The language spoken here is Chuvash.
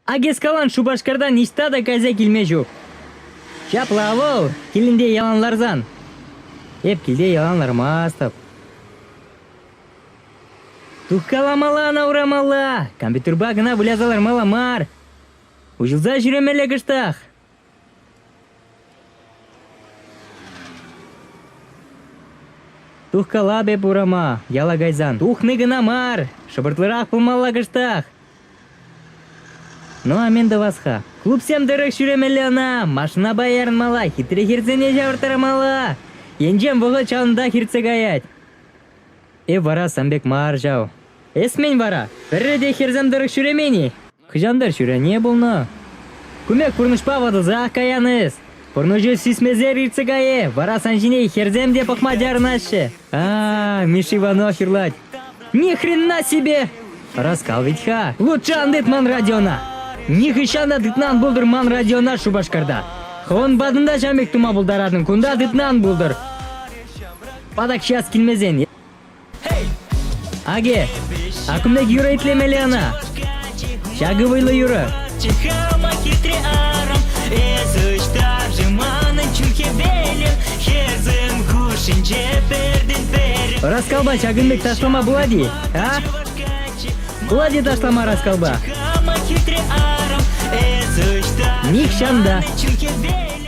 Акискалан Шупашкарта ниҫта та кайса килме ҫук. Ҫапла вӑл килӗнте ялан ларсан. Эп килте ялан лармастӑп. Тухкаламалла ӑна урамалла, компьютерпа кӑна выляса лармалла мар. Уҫӑлса ҫӳремелле кӑштах. Тухкалап эп урама, яла кайсан. Тухни кӑна мар, шӑпӑртлӑрах пулмалла кӑштах. Ну, а мен тӑвас-ха. Клубсем тӑрӑх ҫӳремелле ӑна, машинапа ярӑнмалла, хитре хӗрсене ҫавӑрттарамалла. Енчен вӑхӑт ҫавӑнтах иртсе каять. Эп вара сан пек мар ҫав. Эсмӗн вара пӗрре те хӗрсем тӑрӑх ҫӳремен-и? Хӑҫан-тӑр ҫӳрене пулнӑ. Кумек пурнӑҫпа ватӑлсах каян эс. Пурнӑҫу сисмесер иртсе кайӗ, вара сан ҫине хӗрсем те пӑхма чарӑнаҫҫӗ. А, Миш Иванов юрлать. Ни хрена себе! Хӑраскал вӗт-ха. Лучше ан тыт ман радиона. Нихӑҫан та тытман пултӑр ман радиона Шупашкарта. Хӑвӑн патӑнта ҫам пек тума пултаратӑн, кунта тытман пултӑр. Патак час килмесен. Аге, а кумда юрӑ итлемелле ӑна? Ҫакӑ вӑйлӑ юрӑ. Чихама хитре арӑм, эс ӑҫтар-ши манӑн чун хӗвелӗм? Хӗсӗм хушшинче пӗртен пӗрер. Раскалпа ҫакӑн пек ташлама пулать-и? А? Пулать-и ташлама раскалпа? Чихама хитре арӑм, эс ӑҫтар-ши манӑн чун хӗвелӗм?